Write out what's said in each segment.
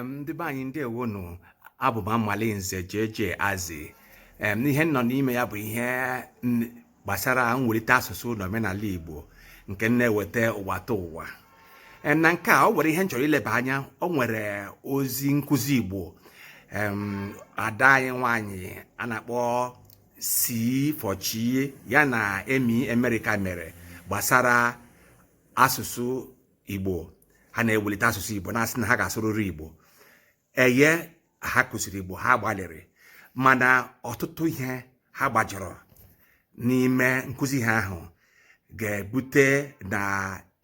ndị be anyị ndeewonụ abụ m Amali Nze JJ Azi ihe m nọ n'ime ya bụ ihe gbasara mwelite asụsụ na omenala Igbo nke m na-ewete ụwataụwa na nke a ọ nwere ihe m chọrọ ileba anya ọ nwere ozi nkụzi Igbo ada anyị nwanyị a na-akpọ si fọchi ya na emi Amerika mere gbasara asụsụ igbo ha na-ewelite asụsụ igbo na-asị na ha ga-asụrịrị igbo eye ha kụziri igbo ha gbalịrị mana ọtụtụ ihe ha gbajọrọ n'ime nkụzi ha ahụ ga-ebute na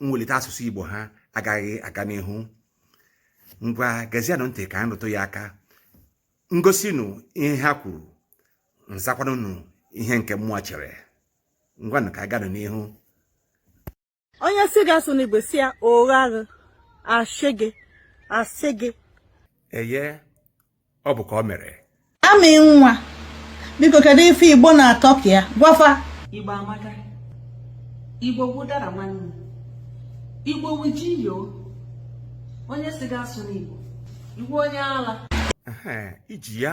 mwelite asụsụ igbo ha agaghị aga n'ihu ngwa gezianụ ntị ka m rụtụ ya aka m gosi unu ihe ha kwuru m zakwanụ unu ihe nke mụwa chere ngwanụ ka a gaanụ n'ihu onye sị gị asụna igbo sị ya ụgha gị asị gị asị gị eye ọ bụ ka ọ mere amị nwa biko kedu ife igbo na-atọka ya gwa fa igbo amaka igbo wụ ụdara nwanne igbo wụ ji yo onye sị gị asụna igbo igbo onye ala iji ya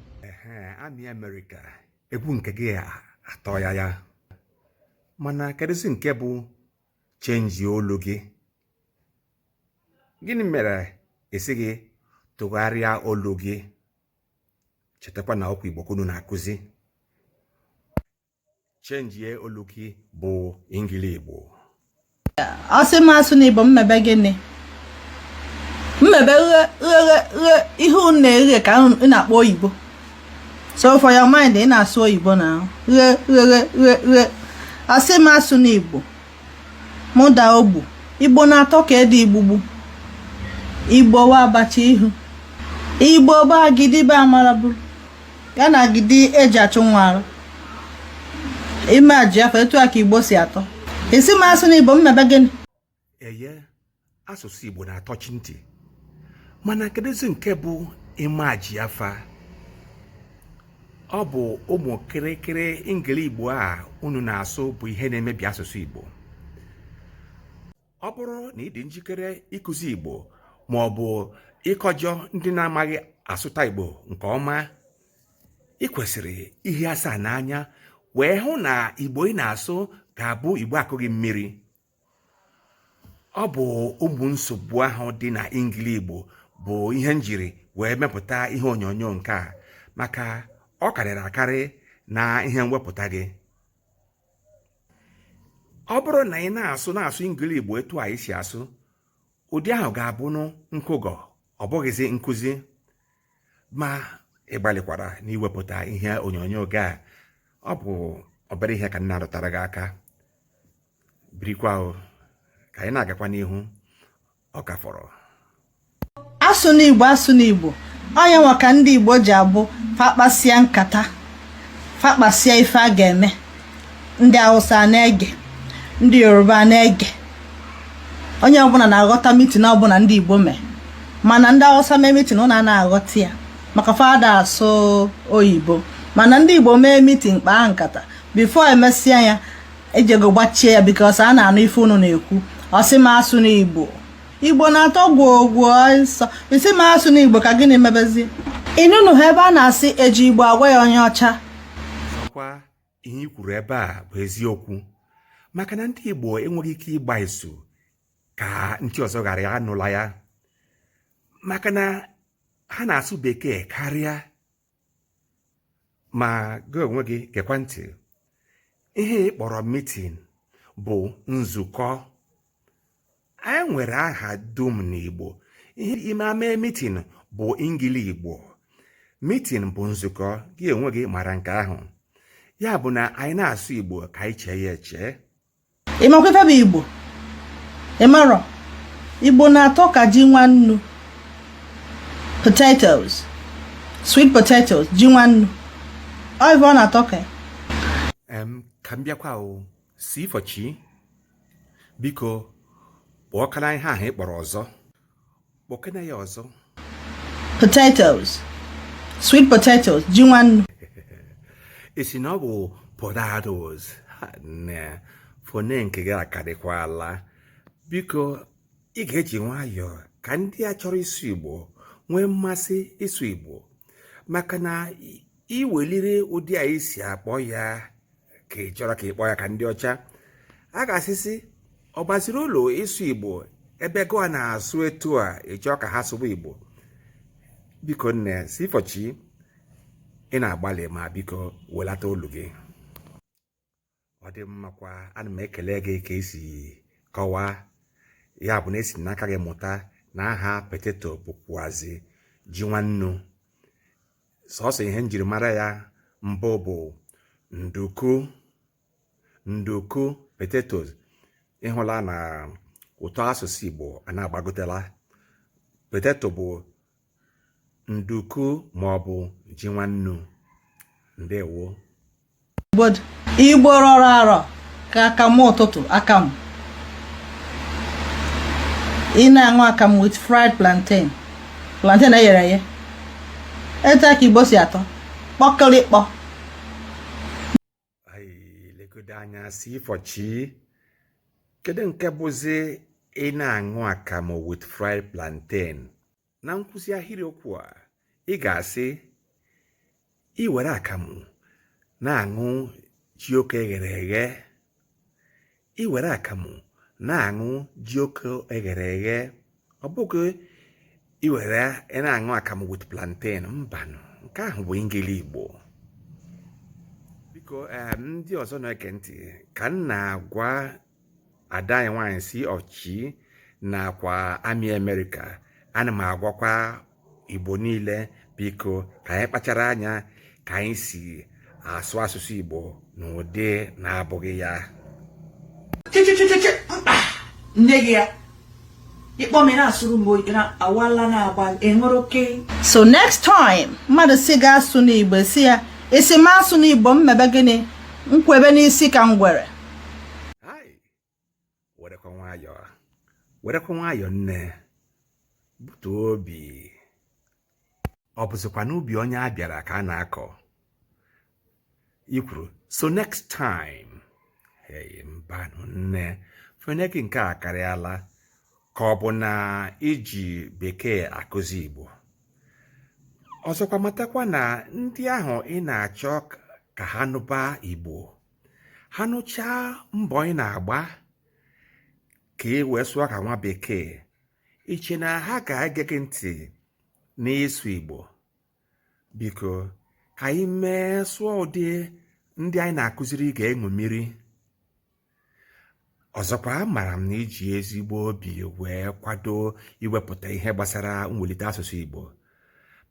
amị Amerika egwu nke gị atọ ya ya mana kedụzi nke bụ chenji olu gị gịnị mere ị sịghị tụgharịa olu gị chetakwa na okwu igbo ka unu na-akụzi chenjie olu gị bụ ingili igbo ọ sị m asụna igbo m mebe gịnị m mebe ihe unu na-eghe ka unu na-akpọ oyibo so for your mind ị na-asụ oyibo na ghe ghe ghe ghe a sị m asụna igbo mụ daa ogbu igbo na-atọ ka ede igbugbu igbo wụ abacha ihu igbo bụ agidi bụ amara bụrụ ya na agidi e ji achụ nwa ara imagine afa etu a ka igbo si atọ a sị m asụna igbo m mebe gịnị eye asụsụ igbo na-atọchi ntị mana kedụzi nke bụ imagine afa ọ bụ ụmụ kịrịkịrị ingili igbo a unu na-asụ bụ ihe na-emebi asụsụ igbo ọ bụrụ na ị dị njikere ịkụzi Igbo ma ọ bụ ịkọjọ ndị na-amaghị asụta Igbo nke ọma ị kwesịrị ihie asaa n'anya wee hụ na Igbo ị na-asụ ga-abụ Igbo a kụghị mmiri ọ bụ ụmụ nsogbu ahụ dị na ingili Igbo bụ ihe m jiri wee mepụta ihe onyonyo nke a maka ọ karịrị akarị na ihe mwepụta gị ọ bụrụ na ị na-asụ na-asụ ngili igbo etu anyị si asụ ụdị ahụ ga-abụ nkụgọ ọ bụghịzi nkụzi ma ị gbalịkwara na iwepụta ihe onyonyo gị a ọ bụ obere ihe ka m na-arụtara gị aka birikwa ka anyị na-agakwa n'ihu ọ ka fọrọ asụna igbo asụna igbo ọ nya nwa ka ndị igbo ji abụ fa kpasịa nkata fa kpasịa ife a ga-eme ndị awụsa na-ege ndị yoruba na-ege onye ọbụla na-aghọta meeting ọbụla ndị igbo mee mana ndị awụsa mee meeting unu ana aghọta ya maka fa ada asụ oyibo mana ndị igbo mee meeting kpaa nkata before e mesịa ya e jego gbachie ya because a na-anụ ife unu na-ekwu ọ sị m asụna igbo igbo na-atọ gwogwo ụsọ ị sị m asụna igbo ka gịnị mebezi ị nụnụ ha ebe a na-asị e ji igbo agwa ya onye ọcha ọ kwa ihe i kwuru ebe a bụ eziokwu maka na ndị igbo enweghị ike ịgba izu ka ndị ọzọ ghara anụla ya maka na ha na-asụ bekee karịa ma gị onwe gị gekwa ntị ihe ị kpọrọ meeting bụ nzukọ anyị nwere aha dum n'Igbo ihe ime ama meeting bụ ngili Igbo meeting bụ nzukọ gị onwe gị mara nke ahụ ya bụ na anyị na-asụ Igbo ka anyị chee ya echee ị makwa ife bụ igbo ị marọ igbo na-atọ ka ji nwannu potatoes sweet potatoes ji nwannu ọ ife ọ na-atọ ka ka m bịakwa o si ifọchi biko kpọkena ihe ahụ ị kpọrọ ọzọ kpọkena ya ọzọ potatoes sweet potatoes ji nwannu ị sị na ọ bụ potatoes na fone nke gị akarịkwala biko ị ga-eji nwayọọ ka ndị a chọrọ ịsụ igbo nwee mmasị ịsụ igbo maka na i weliri ụdị a i si akpọ ya ka ị chọrọ ka ị kpọọ ya ka ndị ọcha a ga-asị sị ọ baziri uru ịsụ igbo ebe gụwa na-asụ etu a ị chọọ ka ha sụwa igbo biko nne si fọchi ị na-agbalị ma biko welata olu gị ọ dị mmakwa ana m ekele gị ka i si kọwaa ya bụ na e si n'aka gị mụta na aha potato bụkwazi ji nwannu sọsọ ihe m jiri mara ya mbụ bụ nduku nduku potatoes ị hụla na ụtọ asụsụ Igbo a na-agbagotela potato bụ nduku ma ọ bụ ji nwannu ndewo igbo rọrọ arọ ka akamụ ụtụtụ akamụ ị na-aṅụ akamụ with fried plantain plantain eyere eye etu a ka igbo si atọ kpọkịrịkpọ legodo anya si ịfọchi kedu nke bụzi ị na-aṅụ akamụ with fried plantain na nkụzi ahịrị okwu a ị ga-asị ị were akamụ na-aṅụ jioko eghere eghe ị were akamụ na-aṅụ jioko eghere eghe ọ bụghị ị were ị na-aṅụ akamụ with plantain mbanụ nke ahụ bụ engili igbo biko ndị ọzọ na-ege ntị ka m na-agwa ada anyị nwaanyị si ọchị nakwa amị amerịka ana m agwakwa igbo niile biko ka anyị kpachara anya ka anyị si asụ asụsụ igbo n'ụdị na-abụghị ya nne gị ya so next time mmadụ sị gị asụna igbo sị ya ị sị m asụna igbo m mebe gịnị m kwebe n'isi ka ngwere werekwa nwayọọ nne butuo obi ọ bụzikwa n'ubi onye a bịara ka a na-akọ ikwuru so next time mbanụ nne fọne gị nke a akarịala ka ọ bụ na i ji bekee akụzi Igbo ọzọkwa matakwa na ndị ahụ ị na-achọ ka ha nụba Igbo ha nụchaa mbọ ị na-agba ka ị wee sụọ ka nwa bekee i che na ha ga-ege gị ntị n'ịsụ Igbo biko ka anyị mee sụọ ụdị ndị anyị na-akụziri ga-eṅomiri ọzọkwa amara m na i ji ezigbo obi wee kwado iwepụta ihe gbasara mwulite asụsụ Igbo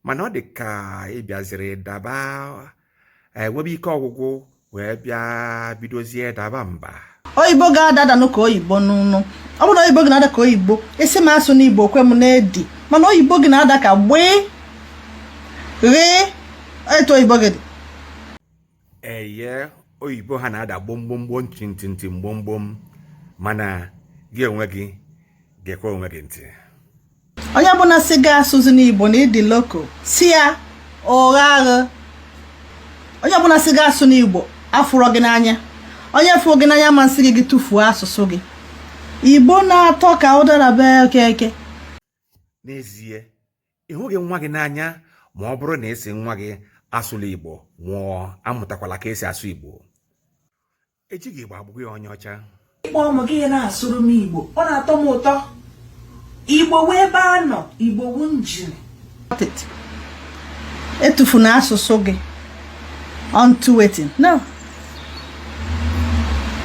mana ọ dị ka ị bịaziri daba enwebe ike ọgwụgwụ wee bịa bidozie daba mba oyibo gị adadanụ ka oyibo n'ọnụ ọ bụrụ na oyibo gị na-ada ka oyibo ị sị m asụna igbo ka m na-edi mana oyibo gị na-ada ka gbee ghee etu oyibo gị dị eye oyibo ha na-ada gbomgbomgbo ntị ntị ntị mgbomgbom mana gị onwe gị gekwa onwe gị ntị onye bụla sị gị asụzina igbo na ị dị local sị ya ụgha agha onye bụla sị gị asụna igbo afụrọ gị n'anya onye fụrụ gị n'anya ama asị gị gị tụfuo asụsụ gị igbo na-atọ ka ụdara be okeke n'ezie ị hụghị nwa gị n'anya ma ọ bụrụ na ị sị nwa gị asụla igbo ma ọ amụtakwala ka esi asụ igbo echi gị gba abụghị onye ọcha ịkpọ ụmụ gị ị na-asụrụ m igbo ọ na-atọ m ụtọ igbo wu ebe a nọ igbo wu njin etufuna asụsụ gị unto wetin no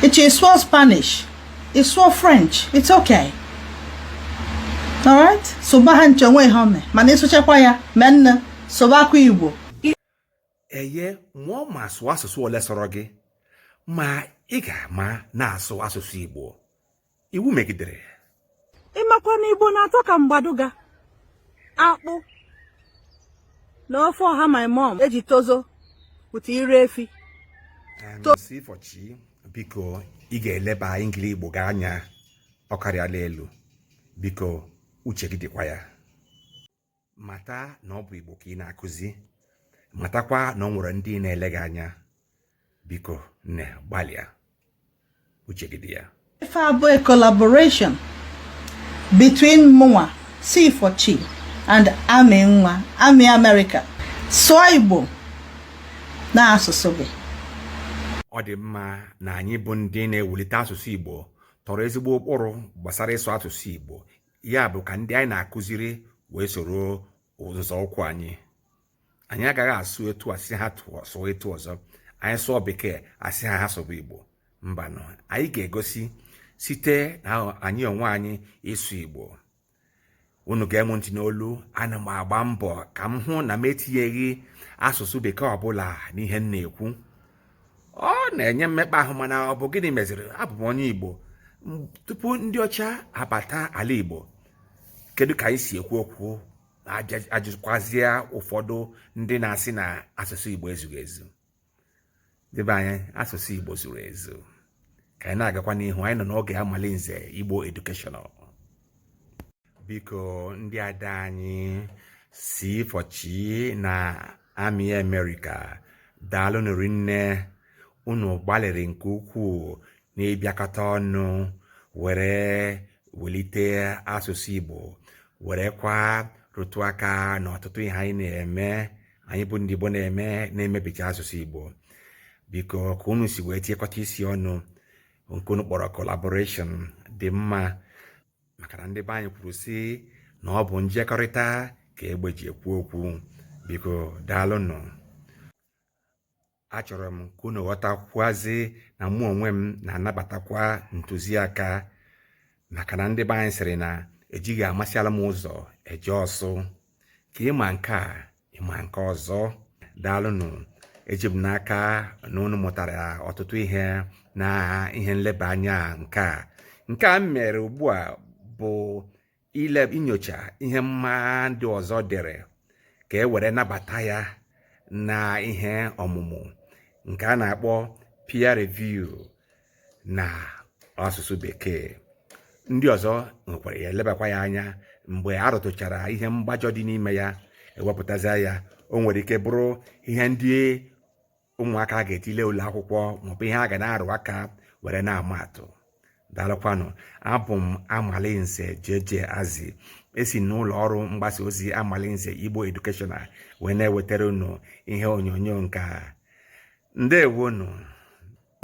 echi ị sụọ spanish ị sụọ french it's okay alright sụba ha ncha o nwe ihe o me mana ị sụchakwa ya mee nne sụbakwa igbo eye mụọ ma asụ asụsụ ole sọrọ gị ma ị ga-ama na-asụ asụsụ Igbo iwu megidere ya ị makwa na Igbo na-atọ ka mgbaduga akpụ na ofe ọha my mom eji tozo pụta ire efi si fọchi biko ị ga-eleba engli Igbo gị anya ọ karịala elu biko uche gị dịkwa ya mata na ọ bụ igbo ka ị na-akụzi matakwa na ọ nwere ndị na-ele gị anya biko nne gbalịa uche gị dị ya ife a bụ a collaboration between mụnwa si fọchi and amị nwa amị amerịka sụọ igbo na asụsụ gị ọ dị mma na anyị bụ ndị na-ewulite asụsụ igbo tọrọ ezigbo ụkpụrụ gbasara ịsụ asụsụ igbo ya bụ ka ndị anyị na-akụziri wee soro nzọụkwụ anyị anyị agaghị asụ etu a sị ha sụọ etu ọzọ anyị sụọ bekee a sị ha ha sụba igbo mbanụ anyị ga-egosi site na anyị onwe anyị ịsụ igbo unu gee m ntị n'olu ana m agba mbọ ka m hụ na m etinyeghị asụsụ bekee ọbụla n'ihe m na-ekwu ọ na-enye mmekpa ahụ mana ọ bụ gịnị meziri abụ m onye igbo tupu ndị ọcha abata ala igbo kedu ka anyị si ekwu okwu ajụkwazie ụfọdụ ndị na-asị na asụsụ igbo ezughị ezu ndị be anyị asụsụ igbo zuru ezu ka anyị na-agakwa n'ihu anyị nọ n'oge amalinze igbo educational biko ndị ada anyị si fọchi na amị amerịka daalụnụ rinne unu gbalịrị nke ukwuu n'ịbịakọta ọnụ were welite asụsụ igbo werekwa rụtụ aka n'ọtụtụ ihe anyị na-eme anyị bụ ndị Igbo na-eme na-emebicha asụsụ Igbo biko ka unu si wee tinyekọta isi ọnụ nke unu kpọrọ collaboration dị mma maka na ndị be anyị kwuru sị na ọ bụ njekọrịta ka egbe ji ekwu okwu biko daalụnụ achọrọ m ka unu ghọtakwuazị na mụ onwe m na-anabatakwa ntụziaka maka na ndị be anyị sịrị na ejighị amasịala m ụzọ eje ọsụ ka ị ma nke a ị ma nke ọzọ daalụnụ eji m n'aka na unu mụtara ọtụtụ ihe na ihe nleba anya nke a nke a m mere ugbu a bụ ile inyocha ihe mma ndị ọzọ dere ka e were nabata ya na ihe ọmụmụ nke a na-akpọ peer review na asụsụ bekee ndị ọzọ nwekwara ya elebakwa ya anya mgbe a rụtụchara ihe mgbajọ dị n'ime ya e wepụtazi ya o nwere ike bụrụ ihe ndị ụmụaka a ga-etile ụlọ akwụkwọ maọbụ ihe a ga na-arụ aka were na-ama atụ daalụkwanụ abụ m Amalinze JJ Azi esi n'ụlọ ọrụ mgbasa ozi Amalinze Igbo Educational wee na-ewetara unu ihe onyonyo nke a ndeewonụ